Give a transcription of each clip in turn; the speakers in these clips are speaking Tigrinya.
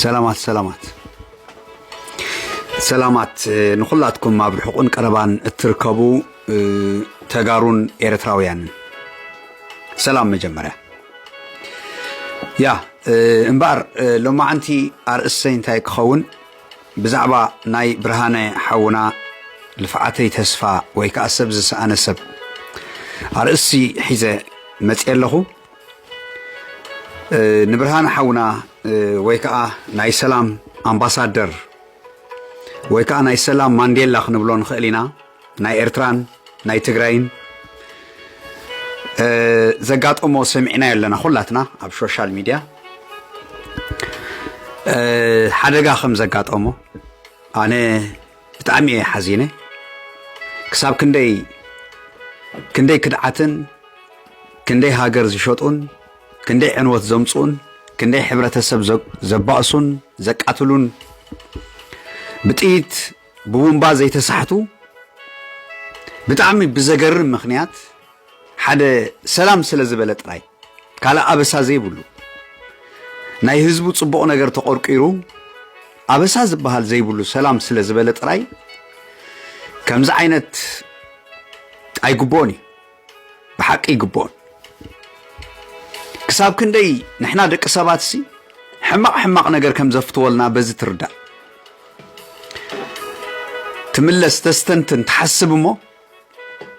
ሰላማት ሰላማት ሰላማት ንኩላትኩም ኣብ ርሑቕን ቀረባን እትርከቡ ተጋሩን ኤርትራውያንን ሰላም መጀመርያ ያ እምበኣር ሎማዓንቲ ኣርእሰይ እንታይ ክኸውን ብዛዕባ ናይ ብርሃነ ሓውና ልፍዓተይ ተስፋ ወይ ከዓ ሰብ ዝሰኣነ ሰብ ኣርእሲ ሒዘ መፅየ ኣለኹ ንብርሃነ ሓውና ወይ ከዓ ናይ ሰላም ኣምባሳደር ወይ ከዓ ናይ ሰላም ማንዴላ ክንብሎ ንኽእል ኢና ናይ ኤርትራን ናይ ትግራይን ዘጋጠሞ ሰሚዕናዮ ኣለና ኩላትና ኣብ ሶሻል ሚድያ ሓደጋ ከም ዘጋጠሞ ኣነ ብጣዕሚ እየ ሓዚነ ክሳብ ክንደይ ክንደይ ክድዓትን ክንደይ ሃገር ዝሸጡን ክንደይ ዕንወት ዘምፅኡን ክንደይ ሕብረተሰብ ዘባእሱን ዘቃትሉን ብጥይት ብቡምባ ዘይተሳሕቱ ብጣዕሚ ብዘገርም ምኽንያት ሓደ ሰላም ስለ ዝበለ ጥራይ ካልእ ኣበሳ ዘይብሉ ናይ ህዝቡ ጽቡቕ ነገር ተቖርቂሩ ኣበሳ ዝበሃል ዘይብሉ ሰላም ስለ ዝበለ ጥራይ ከምዚ ዓይነት ኣይግብኦን እዩ ብሓቂ ይግብኦን ክሳብ ክንደይ ንሕና ደቂ ሰባት ሲ ሕማቕ ሕማቕ ነገር ከም ዘፍትወልና በዚ ትርዳእ ትምለስ ተስተንትን ትሓስብ እሞ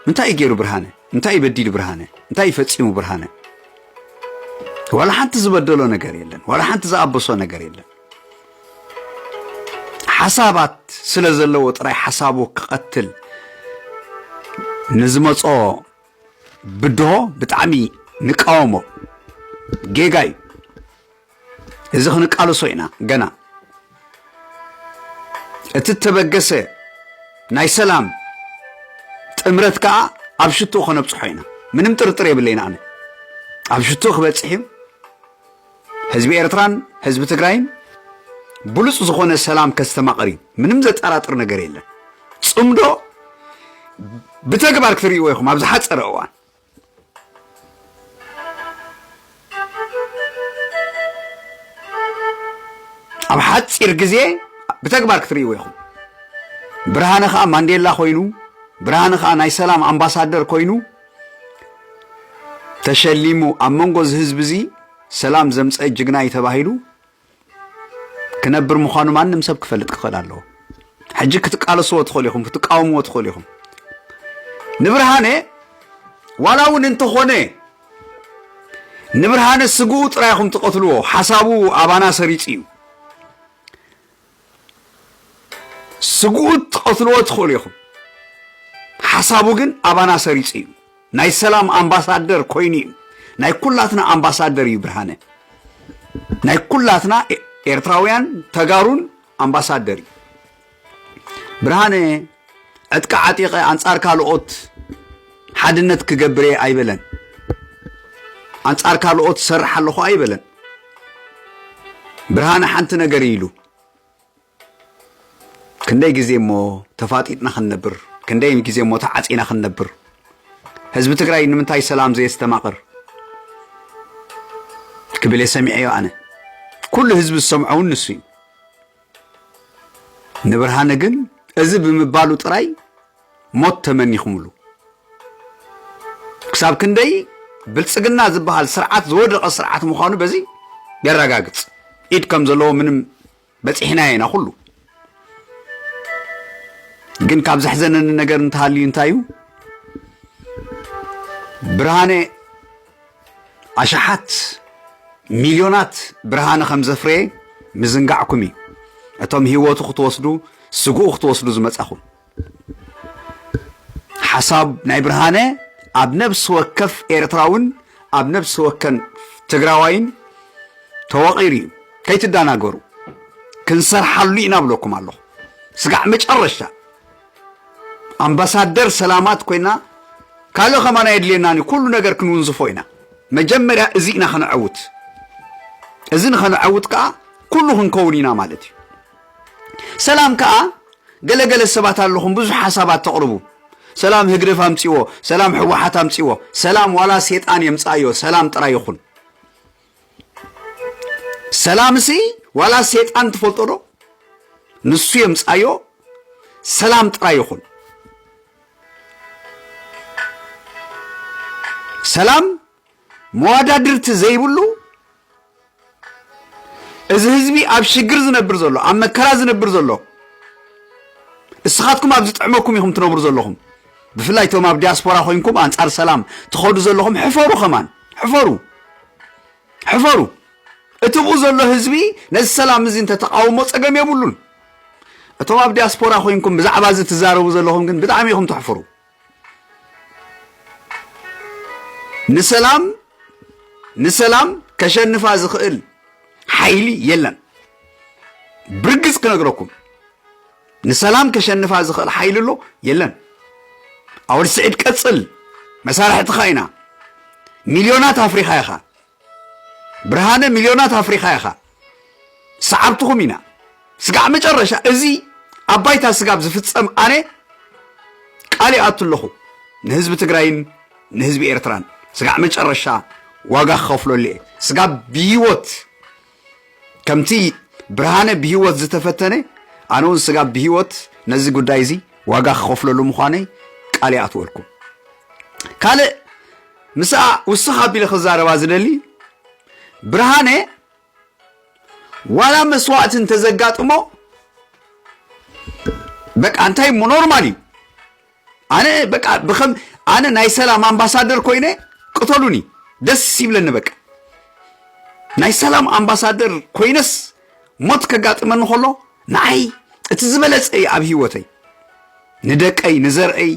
እንታይ እዩ ገይሩ ብርሃነ እንታይ እዩ በዲሉ ብርሃነ እንታይ እዩ ፈፂሙ ብርሃነ ዋላ ሓንቲ ዝበደሎ ነገር የለን ዋላ ሓንቲ ዝኣበሶ ነገር የለን ሓሳባት ስለ ዘለዎ ጥራይ ሓሳቡ ክቐትል ንዝመጾ ብድሆ ብጣዕሚ ንቃወሞ ጌጋ እዩ እዚ ክንቃልሶ ኢና ገና እቲ እተበገሰ ናይ ሰላም ጥምረት ከዓ ኣብ ሽትኡ ከነብፅሖ ኢና ምንም ጥርጥር የብለይን ኣነ ኣብ ሽትኡ ክበፅሕ እዩ ህዝቢ ኤርትራን ህዝቢ ትግራይን ብሉጽ ዝኾነ ሰላም ከስተማቕር እዩ። ምንም ዘጠራጥር ነገር የለን። ጽምዶ ብተግባር ክትርእይዎ ኢኹም ኣብ ዝሓጸረ እዋን። ኣብ ሓጺር ግዜ ብተግባር ክትርእይዎ ኢኹም። ብርሃነ ከዓ ማንዴላ ኮይኑ ብርሃነ ከዓ ናይ ሰላም ኣምባሳደር ኮይኑ ተሸሊሙ ኣብ መንጎ እዚ ህዝቢ እዚ ሰላም ዘምፀአ ጅግና እዩ ተባሂሉ ክነብር ምዃኑ ማንም ሰብ ክፈልጥ ክኽእል ኣለዎ። ሕጂ ክትቃለስዎ ትኽእሉ ኢኹም፣ ክትቃወምዎ ትኽእሉ ኢኹም። ንብርሃነ ዋላ እውን እንተኾነ ንብርሃነ ስግኡ ጥራይ ኢኹም ትቐትልዎ፣ ሓሳቡ ኣባና ሰሪጹ እዩ። ስግኡት ትቐትልዎ ትኽእሉ ኢኹም ሓሳቡ ግን ኣባና ሰሪጹ እዩ ናይ ሰላም ኣምባሳደር ኮይኑ እዩ ናይ ኩላትና ኣምባሳደር እዩ ብርሃነ ናይ ኩላትና ኤርትራውያን ተጋሩን ኣምባሳደር እዩ ብርሃነ ዕጥቂ ዓጢቐ ኣንጻር ካልኦት ሓድነት ክገብር እየ ኣይበለን። ኣንጻር ካልኦት ሰርሕ ኣለኹ ኣይበለን። ብርሃነ ሓንቲ ነገር ኢሉ ክንደይ ግዜ እሞ ተፋጢጥና ክንነብር ክንደይ ግዜ እሞ ተዓፂና ክንነብር ህዝቢ ትግራይ ንምንታይ ሰላም ዘየስተማቕር ክብል እየ ሰሚዐዮ ኣነ ኩሉ ህዝቢ ዝሰምዖ እውን ንሱ እዩ ንብርሃነ ግን እዚ ብምባሉ ጥራይ ሞት ተመኒኹምሉ። ክሳብ ክንደይ ብልጽግና ዝበሃል ስርዓት ዝወደቐ ስርዓት ምዃኑ በዚ የረጋግጽ። ኢድ ከም ዘለዎ ምንም በፂሕናዮ ኢና ኩሉ ግን ካብ ዘሕዘነኒ ነገር እንተሃልዩ እንታይ እዩ ብርሃነ ኣሽሓት ሚልዮናት ብርሃነ ከም ዘፍረየ ምዝንጋዕኩም እዩ። እቶም ህይወቱ ክትወስዱ ስግኡ ክትወስዱ ዝመጻኹም ሓሳብ ናይ ብርሃነ ኣብ ነብሲ ወከፍ ኤርትራውን ኣብ ነብሲ ወከን ትግራዋይን ተወቒሩ እዩ ከይትደናገሩ ክንሰርሓሉ ኢና ብለኩም ኣለኹ ስጋዕ መጨረሻ ኣምባሳደር ሰላማት ኮይና ካልእ ከማና የድልየናን እዩ ኩሉ ነገር ክንውንዝፎ ኢና መጀመርያ እዚ ኢና ከነዐውት እዚ ንኸነዐውት ከዓ ኩሉ ክንከውን ኢና ማለት እዩ ሰላም ከዓ ገለገለ ሰባት ኣለኹም ብዙሕ ሓሳባት ተቕርቡ ሰላም ህግደፍ ኣምፅዎ ሰላም ሕወሓት ኣምፅዎ ሰላም ዋላ ሴጣን የምፃእዮ ሰላም ጥራይ ይኹን ሰላምሲ ዋላ ሴጣን ትፈልጦ ዶ ንሱ የምፃዮ ሰላም ጥራይ ይኹን ሰላም መዋዳድርቲ ዘይብሉ እዚ ህዝቢ ኣብ ሽግር ዝነብር ዘሎ ኣብ መከራ ዝነብር ዘሎ እስኻትኩም ኣብ ዝጥዕመኩም ኢኹም ትነብሩ ዘለኹም ብፍላይ እቶም ኣብ ዲያስፖራ ኮንኩም ኣንጻር ሰላም ትኸዱ ዘለኹም ሕፈሩ ከማን ሕፈሩ ሕፈሩ እቲ ኣብኡ ዘሎ ህዝቢ ነዚ ሰላም እዚ እንተተቃውሞ ጸገም የብሉን እቶም ኣብ ዲያስፖራ ኮንኩም ብዛዕባ እዚ ትዛረቡ ዘለኹም ግን ብጣዕሚ ኢኹም ተሕፍሩ ንሰላም ንሰላም ከሸንፋ ዝኽእል ሓይሊ የለን ብርግጽ ክነግረኩም ንሰላም ከሸንፋ ዝኽእል ሓይሊ ኣሎ የለን ኣወል ስዒድ ቀጽል መሳርሕትኻ ኢና ሚልዮናት ኣፍሪኻ ኢኻ ብርሃነ ሚልዮናት ኣፍሪኻ ኢኻ ሰዓብትኹም ኢና ስጋዕ መጨረሻ እዚ ኣብ ባይታ ስጋብ ዝፍጸም ኣነ ቃል ይኣቱ ኣለኹ ንህዝቢ ትግራይን ንህዝቢ ኤርትራን ስጋዕ መጨረሻ ዋጋ ክኸፍለሉ እየ ስጋብ ብሂወት ከምቲ ብርሃነ ብህይወት ዝተፈተነ ኣነ እውን ስጋብ ብህይወት ነዚ ጉዳይ እዚ ዋጋ ክኸፍለሉ ምዃነይ ቃል ይኣትወልኩም ካልእ ምስኣ ውስኽ ኣቢለ ክዛረባ ዝደሊ ብርሃነ ዋላ መስዋእቲ እንተዘጋጥሞ በቃ እንታይ እሞ ኖርማል እዩ ኣነ በቃ ብከም ኣነ ናይ ሰላም ኣምባሳደር ኮይነ ቅተሉኒ ደስ ይብለኒ በቃ ናይ ሰላም ኣምባሳደር ኮይነስ ሞት ከጋጥመኒ ከሎ ንዓይ እቲ ዝበለጸ እዩ ኣብ ህይወተይ ንደቀይ ንዘርአይ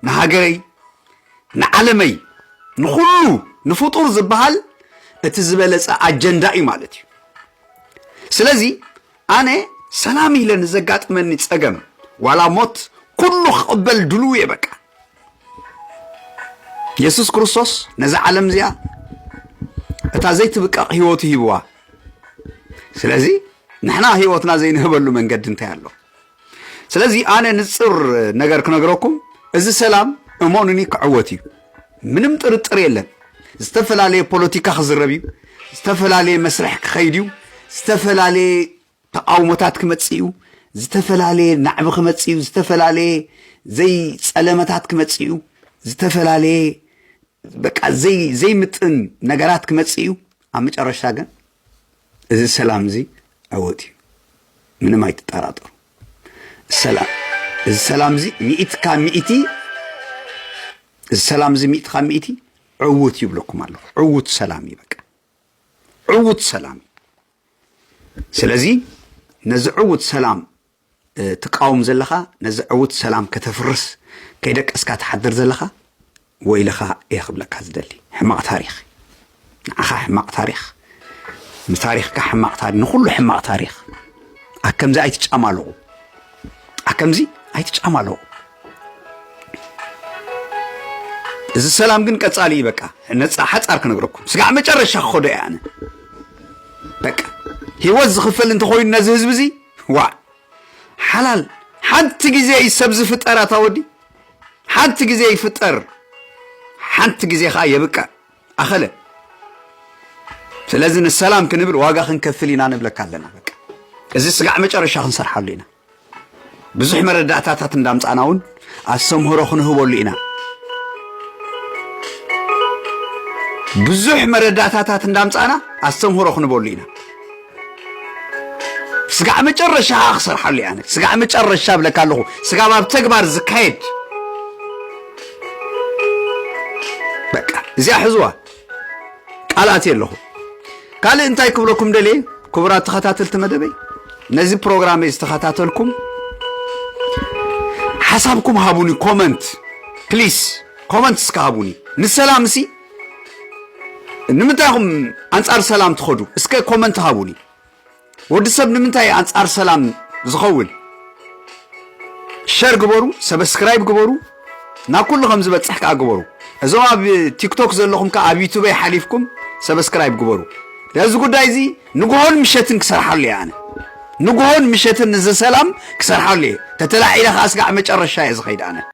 ንሃገረይ ንዓለመይ ንኩሉ ንፍጡር ዝበሃል እቲ ዝበለጸ ኣጀንዳ እዩ ማለት እዩ ስለዚ ኣነ ሰላም ኢለ ንዘጋጥመኒ ጸገም ዋላ ሞት ኩሉ ክቕበል ድሉው እየ በቃ። የሱስ ክርስቶስ ነዛ ዓለም እዚኣ እታ ዘይትብቀቕ ህይወቱ ሂብዋ። ስለዚ ንሕና ህይወትና ዘይንህበሉ መንገዲ እንታይ ኣሎ? ስለዚ ኣነ ንጽር ነገር ክነግረኩም እዚ ሰላም እሞኑኒ ክዕወት እዩ ምንም ጥርጥር የለን ዝተፈላለየ ፖለቲካ ክዝረብ እዩ ዝተፈላለየ መስርሕ ክኸይድ እዩ ዝተፈላለየ ተቃውሞታት ክመጽእ እዩ ዝተፈላለየ ናዕቢ ክመጽእ እዩ ዝተፈላለየ ዘይጸለመታት ክመጽእ እዩ ዝተፈላለየ በቃ ዘይምጥን ነገራት ክመጽእ እዩ ኣብ መጨረሽታ ግን እዚ ሰላም እዚ ዕውት እዩ ምንም ኣይትጠራጠሩ ሰላም እዚ ሰላም እዚ ሚእቲ ካብ ሚእቲ እዚ ሰላም እዚ ሚእቲ ካብ ሚእቲ ዕውት ይብለኩም ኣለኹ ዕውት ሰላም እዩ በቃ ዕውት ሰላም እዩ ስለዚ ነዚ ዕውት ሰላም ትቃወም ዘለኻ ነዚ ዕውት ሰላም ከተፍርስ ከይደቀስካ ትሓድር ዘለኻ ወይልኻ እየ ክብለካ ዝደሊ ሕማቕ ታሪኽ ንዓኻ ሕማቕ ታሪኽ ንታሪኽካ ሕማቕ ታሪኽ ንኹሉ ሕማቕ ታሪኽ ኣከምዚ ኣይትጫማለቑ ኣከምዚ ኣይትጫማለቑ እዚ ሰላም ግን ቀጻሊ እዩ በቃ ነፃ ሓፃር ክነግረኩም ስጋዕ መጨረሻ ክኸዶ እየ ኣነ በቃ ህይወት ዝኽፈል እንተኾይኑ ነዚ ህዝቢ እዚ ዋእ ሓላል ሓንቲ ግዜ እዩ ሰብ ዝፍጠር ኣታ ወዲ ሓንቲ ግዜ ይፍጠር ሓንቲ ግዜ ከዓ የብቅዕ ኣኸለ ስለዚ ንሰላም ክንብል ዋጋ ክንከፍል ኢና ንብለካ ኣለና በቃ እዚ ስጋዕ መጨረሻ ክንሰርሓሉ ኢና ብዙሕ መረዳእታታት እንዳምፃእና እውን ኣስተምህሮ ክንህበሉ ኢና። ብዙሕ መረዳእታታት እንዳምጻእና ኣስተምህሮ ክንበሉ ኢና። ስጋዕ መጨረሻ ከዓ ክሰርሓሉ እያ። ስጋዕ መጨረሻ ብለካ ኣለኹ ስጋብ ኣብ ተግባር ዝካየድ በቃ እዚኣ ሕዝዋ ቃል ኣትየ ኣለኹ። ካልእ እንታይ ክብለኩም ደልየ ክቡራት ተኸታተልቲ መደበይ ነዚ ፕሮግራም ዝተኸታተልኩም ሓሳብኩም ሃቡኒ ኮመንት ፕሊስ ኮመንት እስከ ሃቡኒ ንሰላም እሲ ንምንታይ ኹም ኣንጻር ሰላም ትኸዱ እስከ ኮመንት ሃቡኒ ወዲ ሰብ ንምንታይ እዩ ኣንጻር ሰላም ዝኸውን ሸር ግበሩ ሰብስክራይብ ግበሩ ናብ ኩሉ ከም ዝበጽሕ ከዓ ግበሩ እዞም ኣብ ቲክቶክ ዘለኹም ከዓ ኣብ ዩቱበይ ሓሊፍኩም ሰብስክራይብ ግበሩ ነዚ ጉዳይ እዚ ንግሆን ምሸትን ክሰርሓሉ እየ ኣነ ንግሆን ምሸትን እዚ ሰላም ክሰርሓሉ እየ ተተላዒለ ከዓ ስጋዕ መጨረሻ እየ ዝኸይድ ኣነ